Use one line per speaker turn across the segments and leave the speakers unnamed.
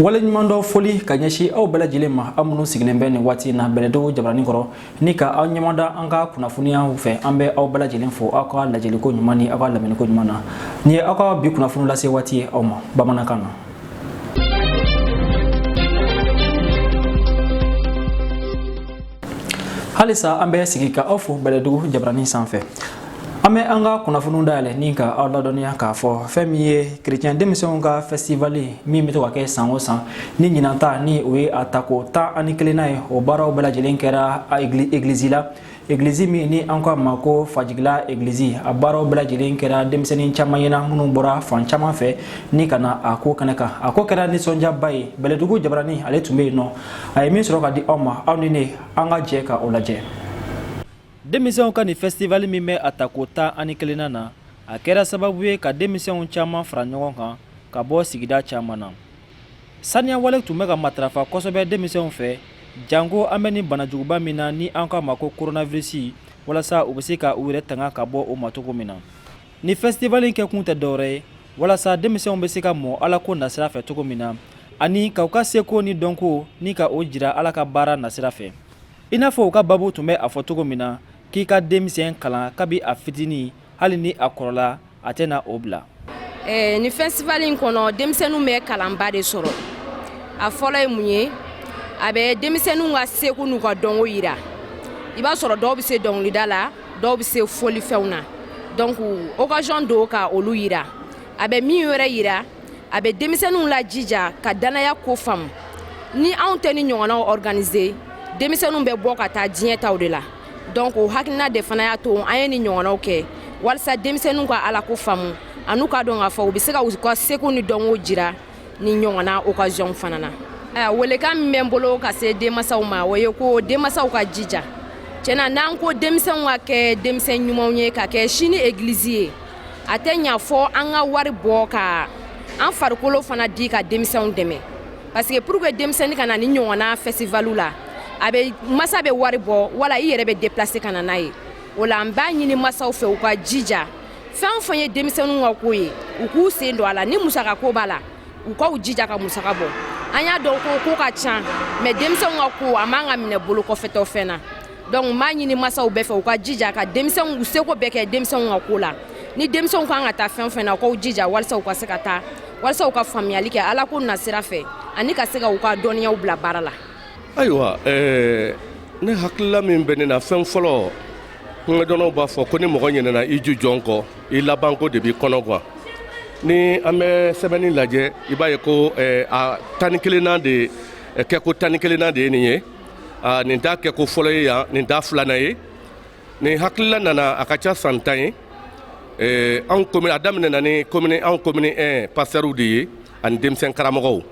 waleɲuman dɔ foli ka ɲɛsin aw bɛɛ lajɛlen ma aw minnu sigilen bɛ nin waati in na bɛlɛdugu jabarani kɔrɔ ni ka aw ɲɛmada an ka kunnafoniyaw fɛ an bɛ aw bɛɛ lajɛlen fo aw ka lajɛliko ɲuman ni aw ka lamɛnniko ɲuman na nin ye aw ka bi kunnafoni lase waati ye aw ma bamanankan na halisa an bɛ sigi ka aw fo bɛlɛdugu jabarani sanfɛ an bɛ an ka kunnafoniw dayɛlɛ ni ka aw ladɔnniya k'a fɔ fɛn min ye kerecɛn denmisɛnw ka fɛsitivali min bɛ to ka kɛ san o san ni ɲinan ta ni o ye a tako tan ani kelennan ye o baaraw bɛɛ lajɛlen kɛra egilizi la egilizi min ni an k'a ma ko fajigila egilizi a baaraw bɛɛ lajɛlen kɛra denmisɛnnin caman ɲɛ na minnu bɔra fan caman fɛ ni ka na a ko kɛnɛ kan a ko kɛra nisɔndiyaba ye bɛlɛdugu jabarani ale tun bɛ yen nɔ a ye min sɔrɔ ka di aw ma aw ni ne an ka jɛ ka o lajɛ denmisɛnw ka nin fɛsitivali min bɛ a ta ko tan ani kelennan na a kɛra sababu ye ka denmisɛnw caman fara ɲɔgɔn kan ka bɔ sigida caman na saniya wale tun bɛ ka matarafa kosɛbɛ denmisɛnw fɛ janko an bɛ nin banajuguba min na ni an k'a ma ko koronavirisi walasa u bɛ se ka u yɛrɛ tanga ka bɔ o ma cogo min na nin fɛsitivali kɛ kun tɛ dɔwɛrɛ ye walasa denmisɛnw bɛ se ka mɔ ala ko nasira fɛ cogo min na ani ka u ka seko ni dɔnko ni ka o jira ala ka baara nasira fɛ i n'a fɔ u ka baabu tun bɛ a fɔ cogo min na k'i ka denmisɛn kalan kabi a fitinin hali ni a kɔrɔla a tɛna o bila eh, nin festival in kɔnɔ denmisɛnninw bɛ kalanba de sɔrɔ a fɔlɔ ye mun ye a bɛ denmisɛnninw ka seko n'u ka dɔnko yira i b'a sɔrɔ dɔw bɛ se dɔnkilida la dɔw bɛ se folifɛnw na donc occasion don ka olu yira a bɛ min wɛrɛ yira a bɛ denmisɛnninw lajija ka dannaya ko faamu ni anw tɛ nin ɲɔgɔnnaw organiser denmisɛnninw bɛ bɔ ka taa diɲɛ taw de la donc o hakilina de fana y'a to an ye nin ɲɔgɔnnaw kɛ walisa denmisɛnninw ka alako faamu an'u k'a dɔn k'a fɔ u bɛ se ka u ka seko ni dɔnko jira nin ɲɔgɔnna okaziyɔnw fana na welekan min bɛ n bolo ka se denmasaw ma o ye ko denmasaw ka jija tiɲɛ na n'an ko denmisɛnw ka kɛ denmisɛn ɲumanw ye ka kɛ sini egilizi ye a tɛ ɲa fo an ka wari bɔ ka an farikolo fana di ka denmisɛnw dɛmɛ parce que pour que denmisɛnnin ka na nin ɲɔgɔnna festival la a bɛ masa bɛ wari bɔ wala i yɛrɛ bɛ déplacer ka na n'a ye o la n b'a ɲini masaw fɛ u ka jija fɛn o fɛn ye denmisɛnninw ka ko ye u k'u sen don a la ni musaka ko b'a la u k'u jija ka musaka bɔ an y'a dɔn ko ko ka ca mais denmisɛnw ka ko a man ka minɛ bolo kɔfɛtɔ fɛn na donc m'a ɲini masaw bɛɛ fɛ u ka jija ka denmisɛnw u seko bɛɛ kɛ denmisɛnw ka ko la ni denmisɛnw kan ka taa fɛn o fɛn na u k'u jija walisa u ka se ka taa walisa u ka faamuyali kɛ alako nasira fɛ ani ka se ka u ka dɔnniyaw bila baara la ayiwa eh, ne hakilila min bɛ ne na fɛn fɔlɔ kumadɔnnaw b'a fɔ ko ni mɔgɔ ɲinɛna i jujɔn kɔ i labanko de b'i kɔnɔ gwan ni an bɛ sɛbɛnni lajɛ i b'a ye ko eh, a tan ni kelenna de eh, kɛko tan ni kelenna de ye nin ye uh, nin t'a kɛko fɔlɔ ye yan nin t'a filanan ye nin hakilila nana a ka ca san tan ye eh, an a daminɛna ni komini anw komini 1 pasitɛriw de ye ani denmisɛn karamɔgɔw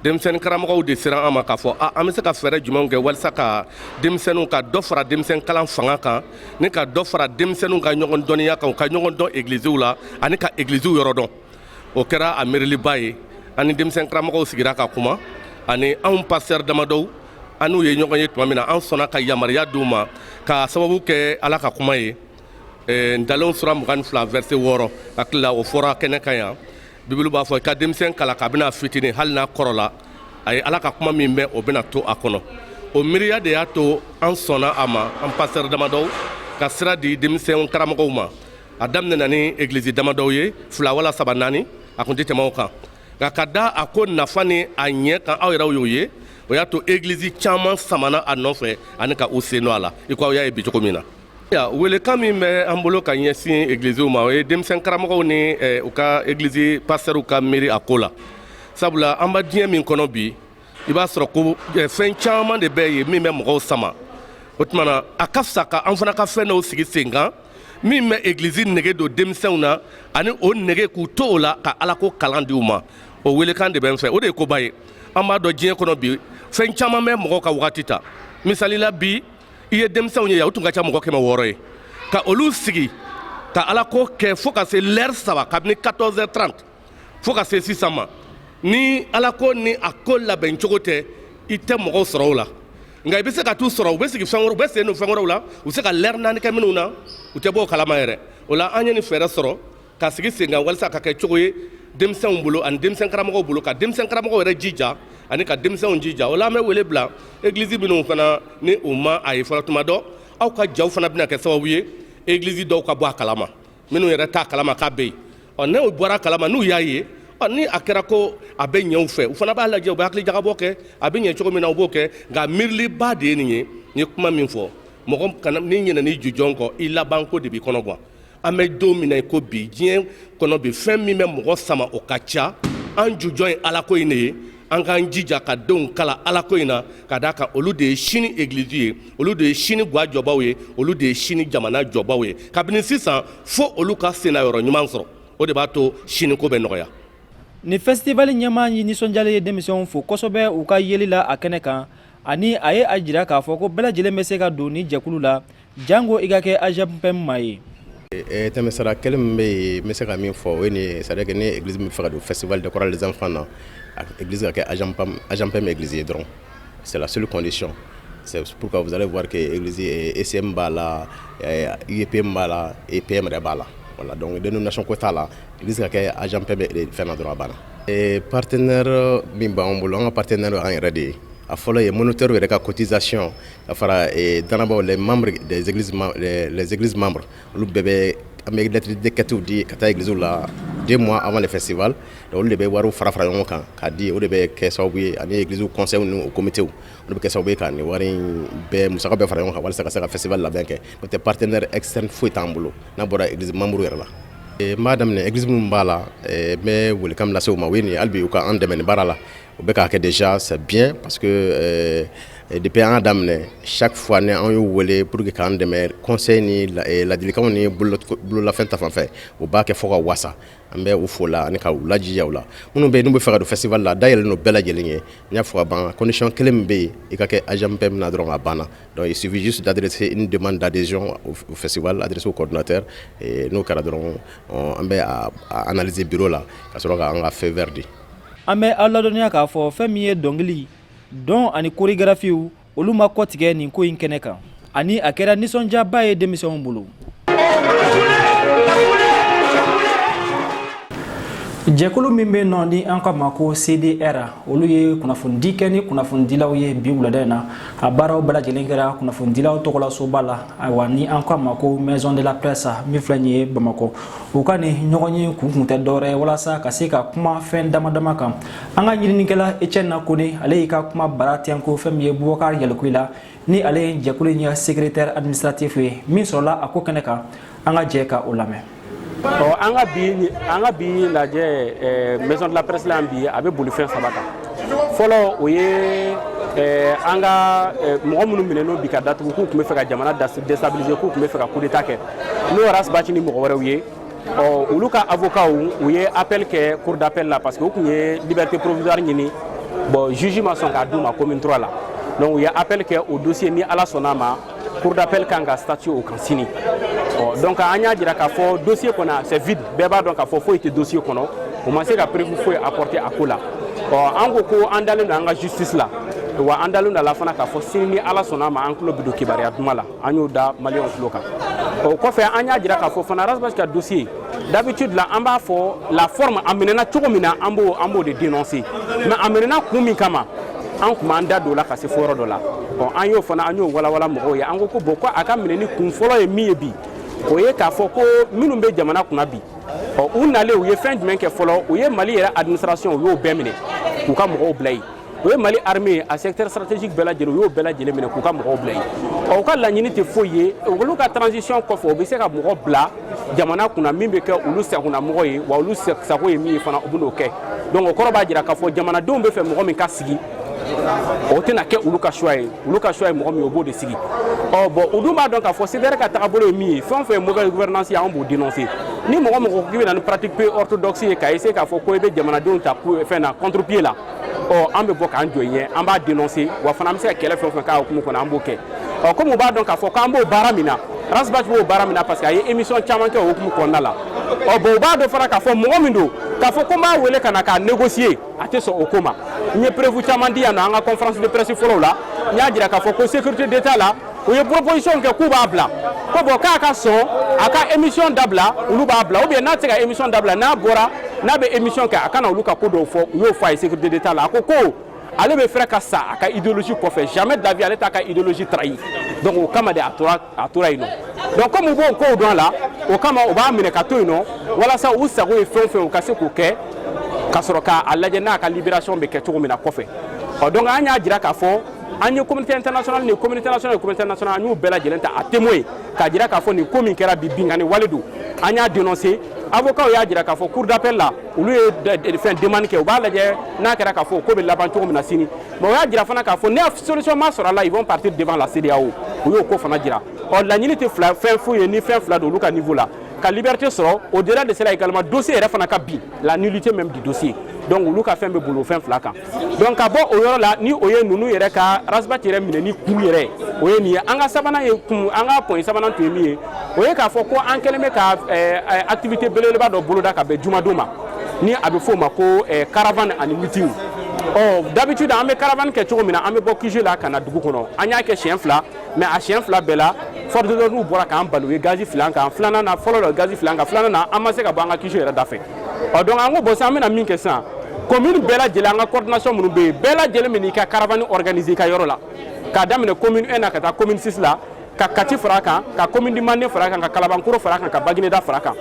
denmisɛnnin karamɔgɔw de sera an ma k'a fɔ a an bɛ se ka fɛɛrɛ jumɛnw kɛ walisa ka denmisɛnninw ka dɔ fara denmisɛn kalan fanga kan ni ka dɔ fara denmisɛnninw ka ɲɔgɔn dɔnniya kan u ka ɲɔgɔn dɔn egiliziw la ani ka egiliziw yɔrɔ dɔn o kɛra a miiriliba ye ani denmisɛn karamɔgɔw sigira ka kuma ani anw pasitɛri damadɔw an n'u ye ɲɔgɔn ye tuma min na an sɔnna ka yamaruya di u ma k'a sababu kɛ ala ka kuma ye eh, ntalenw sura mugan ni fila vɛrse wɔɔrɔ hakili la o fɔra kɛnɛ kan yan bibulu b'a fɔ i ka denmisɛn kalan kabini a fitinin hali n'a kɔrɔla a ye ala ka kuma min mɛn o bɛna to a kɔnɔ o miiriya de y'a to an sɔnna a ma an pasitɛri damadɔw ka sira di denmisɛn karamɔgɔw ma a daminɛna ni egilizi damadɔw ye fila wala saba naani a kun tɛ tɛmɛ o kan nka ka da a ko nafa ni a ɲɛ kan aw yɛrɛw y'o ye o y'a to egilizi caman samana a nɔfɛ ani ka u sen don a la i ko aw y'a ye bi cogo min na welekan min bɛ an bolo ka ɲɛsin egiliziw ma o ye denmisɛn karamɔgɔw ni eh, u ka egilizi pasitɛriw ka miiri a ko la sabula an b'a diɲɛ min kɔnɔ bi i b'a sɔrɔ ko fɛn caman de bɛ ye min bɛ mɔgɔw sama o tumana a ka fisa ka an fana ka fɛn dɔw sigi sen kan min bɛ egilizi nege don denmisɛnw na ani o nege k'u to o la ka alako kalan di u ma o welekan de bɛ n fɛ o de ye koba ye an b'a dɔn diɲɛ kɔnɔ bi fɛn caman bɛ mɔgɔw ka wagati ta misali la bi i ye denmisɛnw ye yan u tun ka ca mɔgɔ kɛmɛ wɔɔrɔ ye ka olu sigi ka alako kɛ fo ka se lɛri saba kabini 14 heures 30 fo ka se sisan ma ni alako ni a ko labɛn cogo tɛ i tɛ mɔgɔw sɔrɔ o la nka i bɛ se ka t'u sɔrɔ u bɛ sigi fɛn wɛrɛ u bɛ sen don fɛn wɛrɛw la u bɛ se ka lɛri naani kɛ minnu na u tɛ bɔ o kalama yɛrɛ o la an ye nin fɛɛrɛ sɔrɔ ka sigi sen kan walisa ka kɛ cogo ye denmisɛnw bolo ani denmisɛn karamɔgɔw bolo ka denmisɛn karamɔgɔw yɛrɛ jija ani ka denmisɛnw jija o la an bɛ wele bila egilizi minnu fana ni u ma a ye fɔlɔ tuma dɔ aw ka jaw fana bɛna kɛ sababu ye egilizi dɔw ka bɔ a kalama minnu yɛrɛ t'a kalama k'a bɛ yen ɔ n'u bɔra a kalama n'u y'a ye ni a kɛra ko a bɛ ɲɛ u fɛ u fana b'a lajɛ u bɛ hakilijagabɔ kɛ a bɛ ɲɛ cogo min na u b'o kɛ nka miiriliba de ye nin ye n ye kuma min fɔ mɔgɔ n'i ɲinɛna i jujɔn kɔ i labanko de b'i kɔnɔ gan an bɛ don min na i ko bi diɲɛ kɔnɔ bi fɛn min bɛ mɔgɔ sama o ka ca an jujɔn ye alako in de ye an k'an jija ka denw kalan alako in na ka d' a kan olu de ye sini egilisi ye olu de ye sini ga jɔbaaw ye olu de ye sini jamana jɔbaaw ye kabini sisan fo olu ka sen yɔrɔ ɲuman sɔrɔ o de b'a to siniko bɛ nɔgɔya nin fɛsitivali ɲɛmaa ye nisɔndiyalen ye denmisɛnw fo kosɛbɛ u ka yeli la a kɛnɛ kan ani a ye a jira k'a fɔ ko bɛɛ lajɛlen bɛ se ka don ni jɛkulu la janko i ka kɛ AGEMPEM maa ye tɛmɛsira kelen min bɛ yen bɛ se ka min fɔ o ye sara kɛ ni egilisi min b'a fɛ ka don festival des chorales enfants na egilisi ka kɛ AGEMPEM egilisi ye dɔrɔn c'est la seule condition sɛp ka fisale warike ese b'a la ip b'a la ep yɛrɛ b'a la voilà donc dénomination ko t'a la i bɛ se ka kɛ AGEMPEM fɛn dɔrɔn a banna la Ee partenaire yɔrɔ min b'an bolo an ka partenaire y'an yɛrɛ de ye a fɔlɔ ye moniteur yɛrɛ ka cotisation ka fara ee dannabaa les membres des églises membres des les églises membres olu bɛɛ bɛ an bɛ lettre de quête di ka taa église la deux mois avant le festival donc olu de bɛ wariw fara fara ɲɔgɔn kan k'a di o de bɛ kɛ sababu ye ani église conseils n'u u comités olu de bɛ kɛ sababu ye ka nin wari in bɛɛ musaka bɛɛ fara ɲɔgɔn kan walasa ka se ka festival labɛn kɛ n'o tɛ partenaire externe foyi t'an bolo n'a bɔra église membre yɛrɛ la N b'a daminɛ egilisi minnu b'a la n bɛ welekan min lase u ma o ye nin halibi u ka an dɛmɛ baara la u bɛ k'a kɛ déjà c'est bien parce que depuis an y'a daminɛ chaque fois ni an y'u wele pour que k'an dɛmɛ conseil ni ladilikanw ni bololafɛn ta fan fɛ u b'a kɛ fo ka wasa an bɛ u fo o la ani ka lajiya la minnu bɛ yen n'u bɛ fɛ ka don festival la a da yɛlɛlen bɛɛ lajɛlen ye n y'a fɔ ka ban condition kelen min bɛ yen i ka kɛ AGEMPEM na dɔrɔn a banna Dɔnku sufisi dadse n de man dadzc fɛsiddrisi kɔdtɛ n'o kɛra dɔrɔn an bɛ anze bi la ka sɔrɔ k'an ka fɛn wɛrɛɛrɛ de an bɛ aw ladɔnya k'a fɔ fɛn min ye dɔnkili dɔn ani koɔrigraffiw olu ma kɔ tigɛ nin ko in kɛnɛ kan ani a kɛra nisɔndiyaba ye denmisɛnw bolo jɛkulu min bɛ nɔ ni an k'a ma ko cdr olu ye kunnafonidi kɛ ni kunnafonidilaw ye bi wulada in na a baaraw bɛɛ lajɛlen kɛra kunnafonidilaw tɔgɔlasoba la ayiwa ni an k'a ma ko maison de la presse min filɛ nin ye bamakɔ u ka nin ɲɔgɔnye kun kun tɛ dɔwɛrɛ ye walasa ka se ka kuma fɛn dama dama kan an ka ɲininikɛla étienne kone ale y'i ka kuma bara tɛnko fɛn min ye bubakari yalikuye la ni ale ye jɛkulu in ka secrétaire administratif ye min sɔrɔla a ko kɛnɛ kan an ka jɛ ka o lamɛn ɔ an ka bi an ka bi lajɛ eh, maison de la presse la yan bi a bɛ boli fɛn saba kan fɔlɔ o ye eh, an ka eh, mɔgɔ minnu minɛna bi ka datugu k'u tun bɛ fɛ ka jamana destabiliser k'u tun bɛ fɛ ka coup d'état kɛ n'o ye ras bath ni mɔgɔ wɛrɛw ye ɔ olu ka avocatw u ye appel kɛ cour d'appel la parce que u tun ye liberté provisoire ɲini bon juge ma sɔn k'a d'u ma commune 3 la donc u ye appel kɛ o dossier ni ala sɔnna a ma cour d'appel kan ka statuer o kan sini ɔ donc an y'a jira k'a fɔ dossier kɔnɔ c'est vide bɛɛ b'a dɔn k'a fɔ foyi tɛ dossier kɔnɔ u ma se ka preuve foyi apporter a ko la ɔ an ko ko an dalen don an ka justice la wa an dalen don a la fana k'a fɔ sini ni ala sɔnna a ma an tulo bɛ don kibaruya duma la an y'o da maliyɛnw tulo kan o kɔfɛ an y'a jira k'a fɔ fana ras bath ka dossier d'habitude la an b'a fɔ la forme a minɛna cogo min na an b'o an b'o de dénoncer mais a minɛna kun min kama an tun m'an da don o la ka se fo yɔrɔ dɔ la bon an y'o fana an y'o walawala mɔgɔw ye an ko ko bon ko a ka minɛni kun fɔlɔ ye min ye bi o ye k'a fɔ ko minnu bɛ jamana kunna bi ɔ u nalen u ye fɛn jumɛn kɛ fɔlɔ u ye mali yɛrɛ administration u y'o bɛɛ minɛ k'u ka mɔgɔw bila yen u ye mali armée a secteur stratégique bɛɛ lajɛlen u y'o bɛɛ lajɛlen minɛ k'u ka mɔgɔw bila yen ɔ u ka laɲini tɛ foyi ye olu ka transition kɔfɛ u bɛ se ka mɔgɔ bila jamana kunna min bɛ kɛ olu sagonamɔgɔ ye wa olu sago ye min ye fana u bɛn'o kɛ donc o kɔrɔ b'a jira k'a fɔ jamanadenw b'a fɛ mɔgɔ min ka sigi o tɛna kɛ olu ka choix ye olu ka choix ye mɔgɔ min ye u b'o de sigi ɔ bon u dun b'a dɔn k'a fɔ cdr ka tagabolo ye min ye fɛn o fɛn ye mauvaise gouvernance ye anw b'o dénoncer ni mɔgɔ o mɔgɔ k'i bɛ na ni pratique peu orthodoxe ye ka essayer k'a fɔ ko i bɛ jamanadenw ta fɛn na contre pied la ɔ an bɛ bɔ k'an jɔ i ɲɛ an b'a dénoncer wa fana an bɛ se ka kɛlɛ fɛn o fɛn k'a hukumu kɔnɔ an b'o kɛ ɔ comme u b'a dɔn k'a fɔ k'an b'o baara min na ras bath b'o baara min na parce que a ye émission caman kɛ o hukumu kɔnɔna la ɔ bon u b'a dɔn fana k'a fɔ mɔgɔ min don k'a fɔ ko n b'a wele ka na k'a négocier a tɛ sɔn o ko ma n ye preuve caman di yan nɔ an ka conférence de presse fɔlɔw la n y'a jira k'a fɔ ko sécurité d'état la u ye proposition kɛ k'u b'a bila ko bon k'a ka sɔn a ka émission dabila olu b'a bila ou bien n'a tɛ se ka émission dabila n'a bɔra n'a bɛ émission kɛ a kana olu ka ko dɔw fɔ u y'o fɔ a ye sécurité d'état la a ko ko ale bɛ préférer ka sa a ka idéologie kɔfɛ jamais de la vie ale t'a ka idéologie trahi donc o kama de a tora a tora yen nɔ donc comme u b'o kow dɔn a la o kama u b'a minɛ ka to yen nɔ walasa u sago ye fɛn o fɛn u ka se k'o kɛ ka sɔrɔ k'a lajɛ n'a ka libération bɛ kɛ cogo min na kɔfɛ ɔ donc an y'a jira k'a fɔ an ye communauté internationale ni communauté nationale ni communauté nationale an y'u bɛɛ lajɛlen ta à témoin ye k'a jira k'a fɔ nin ko min kɛra bi binkanni wale don an y'a dénoncer avocats y'a jira k'a fɔ cour d'appel la olu ye fɛn demande kɛ u b'a lajɛ n'a kɛra k'a fɔ ko bɛ laban cogo min na sini mais u y'a jira fana k'a fɔ ni solution ma sɔrɔ a la ils vont partir devant la CEDEAO u y'o ko fana jira ɔ laɲini tɛ fila fɛn foyi ye ni fɛn fila don olu ka niveau la ka liberté sɔrɔ au delà de cela également dossier yɛrɛ fana ka bin la nullité même du dossier donc olu ka fɛn bɛ boli o fɛn fila kan donc ka bɔ o yɔrɔ la ni o ye ninnu yɛrɛ ka ras bath yɛrɛ minɛni kun yɛrɛ o ye nin ye an ka sabanan ye kun an ka point sabanan tun ye min ye o ye k'a fɔ ko an kɛlen bɛ ka eh, eh, activité belebeleba dɔ boloda ka bɛn jumadon ma ni a bɛ f'o ma ko eh, caravane ani meeting ɔ d'habitude an bɛ caravane kɛ cogo min na an bɛ bɔ QG la ka na dugu kɔnɔ an y'a kɛ siɲɛ fila mais a siɲɛ fila bɛɛ la force de l'ordre bɔra k'an bali u ye gazi fili an kan filanan na fɔlɔ la gazi fili an kan filanan na an ma se ka bɔ an ka QG yɛrɛ dafɛ ɔ donc an ko bon sisan an bɛna min kɛ sisan commune bɛɛ lajɛlen an ka coordination minnu bɛ yen bɛɛ lajɛlen bɛn'i ka caravane organiser i ka yɔrɔ la k'a daminɛ commune 1 na ka taa commune 6 la ka kati fara a kan ka commune du mande fara a kan ka kalabankɔrɔ fara a kan ka bagineda fara a kan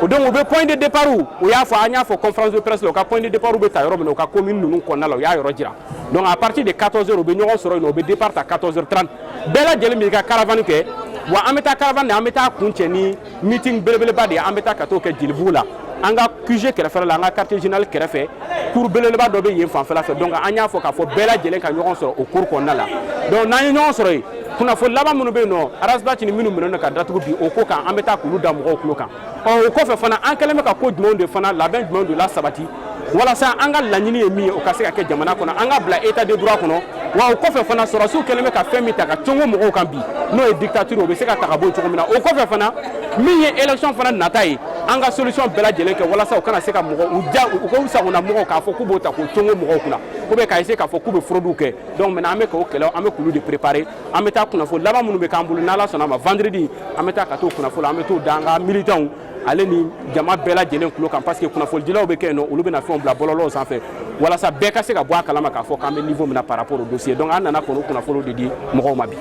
o donc u bɛ point de départ u y'a fɔ an y'a fɔ conférence de presse la u ka point de départ bɛ ta yɔrɔ min na u ka commune ninnu kɔnɔna la u y'a yɔrɔ jira donc à partir de 14 heures u bɛ ɲɔgɔn sɔrɔ yen nɔ u bɛ départ ta 14 heures 30 bɛɛ lajɛlen b'i ka caravane kɛ wa an bɛ taa caravane na an bɛ taa kuncɛ ni meeting belebeleba de ye an bɛ taa ka t'o kɛ jelibugu la an ka QG kɛrɛfɛ la an ka quartier général kɛrɛfɛ cour belebeleba dɔ bɛ yen fanfɛla fɛ donc an y'a fɔ k'a fɔ bɛɛ lajɛlen ka ɲɔgɔn sɔrɔ o cour kɔnɔna la donc n'an ye ɲɔgɔn sɔrɔ yen kunnafoni laban minnu bɛ yen nɔ arasibati ni minnu minɛnen don ka datugu bi o ko kan an bɛ taa k'olu da mɔgɔw tulo kan ɔ o kɔfɛ fana an kɛlen bɛ ka ko jumɛnw de fana labɛn jumɛnw de lasabati walasa an ka laɲini ye min ye o ka se ka kɛ jamana kɔnɔ an ka bila état de droit kɔnɔ wa o kɔfɛ fana sɔrɔdasiw kɛlen bɛ ka fɛn min ta ka congo mɔgɔw kan bi n'o ye dictature o bɛ se ka ta ka bɔ cogo min na o kɔfɛ fana min ye élection fana nata ye an ka solution bɛɛ lajɛlen kɛ walasa u kana se ka mɔgɔ u ja u ka u sagona mɔgɔw k'a fɔ k'u b'o ta k'o congo mɔgɔw kunna ou bien k'a essayer k'a fɔ k'u bɛ fraude kɛ donc maintenant an bɛ k'o kɛlɛ an bɛ k'olu de préparer an bɛ taa kunnafoni laban minnu bɛ k'an bolo n'ala sɔnna a ma vendredi an bɛ taa ka t'o kunnafoni an bɛ t'o da an ka militants ale ni jama bɛɛ lajɛlen tulo kan parce que kunnafonidilaw bɛ kɛ yen nɔ olu bɛna fɛnw bila bɔlɔlɔw sanfɛ walasa bɛɛ ka se ka bɔ a kalama k'a fɔ k'an bɛ niveau min na par rapport au dossier donc an nana kɔni kunnafoniw de di mɔgɔw ma bi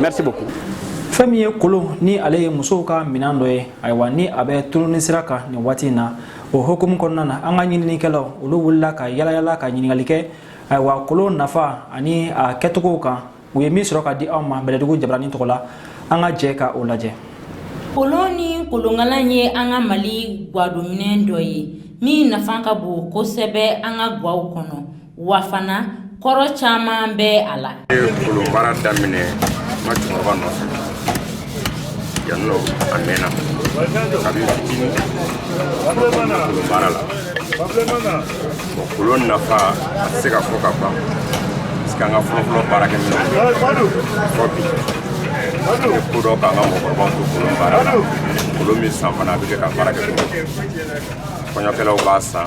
merci beaucoup fɛn min ye kolon ni ale ye musow ka minan dɔ ye ayiwa ni a bɛ tununi sira kan nin waati in na o hukumu kɔnɔna na an ka ɲininikɛlaw olu wulila ka yalayala ka ɲininkali kɛ ayiwa kolon nafa ani a kɛcogow kan u ye min sɔrɔ ka di aw ma bɛlɛdugu jabarani tɔgɔ la an ka jɛ ka o lajɛ kolon ni kolonkalan ye an ka mali gwadominɛn dɔ ye min nafa ka bon kosɛbɛ an ka gwaw kɔnɔ wa fana kɔrɔ caman bɛ a la kolonbaara daminɛ ma cɛkɔrɔba nɔfɛ yan nɔ a mɛnna a bɛ kolon baara la bon kolon nafa a tɛ se ka fɔ ka ban parce que an ka fɔlɔfɔlɔ baarakɛminɛn fɔ bi n ye ko dɔn k'an ka mɔgɔkɔrɔbaw to kolon baara la kolon bɛ san fana a bɛ kɛ ka baara kɛ kɔɲɔkɛlaw b'a san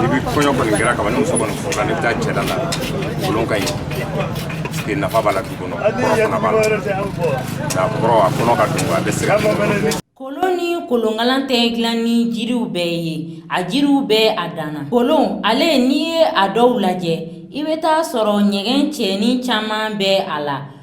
n'i bɛ kɔɲɔ kɔni kɛra kaban ni muso kɔni furula n'i bɛ taa cɛla la kolon ka ɲi parce que nafa b'a la du kɔnɔ kɔrɔ fana b'a la nka kɔrɔ a kɔnɔ ka dun a bɛ se ka kolon ni kolonkalan tɛ dilan ni jiriw bɛɛ ye a jiriw bɛɛ a danna kolon ale n'i ye a dɔw lajɛ i bɛ taa sɔrɔ ɲɛgɛn cɛɲi caman bɛ a la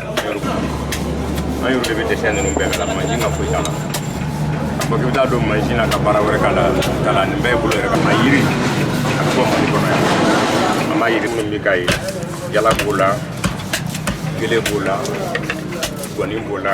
an yɛrɛ de bɛ dɛsɛ ninnu bɛɛ kala mansin ka foyi t'a la a fɔ k'i bɛ taa don mansin na ka baara wɛrɛ k'a la k'a la nin bɛɛ ye bolo yɛrɛ ka ma yiri a bɛ bɔ mali kɔnɔ yan an b'a yiri minnu bɛ k'a ye jala b'o la gele b'o la gɔni b'o la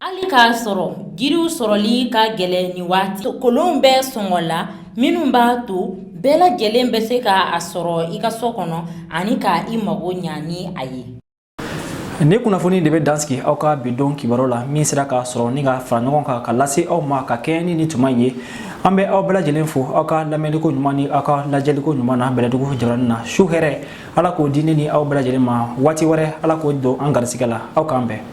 hali k'a sɔrɔ jiriw sɔrɔli ka gɛlɛn ni waati kolonw bɛ sɔngɔ la minnu b'a to bɛɛ lajɛlen bɛ se ka a sɔrɔ i ka so kɔnɔ ani ka i mago ɲa ni a ye ni kunnafoni de bɛ dansigi aw ka bi don kibaru la min sera k'a sɔrɔ ni ka fara ɲɔgɔn kan ka lase aw ma ka kɛɲɛ ni ni tuma ye an bɛ aw bɛɛ lajɛlen fo aw ka lamɛnliko ɲuman ni aw ka lajɛliko ɲuman na bɛlɛdugu jabaranin na su hɛrɛ ala k'o di ne ni aw bɛɛ lajɛlen ma waati wɛrɛ ala k'o don an garisigɛ la aw k'an bɛn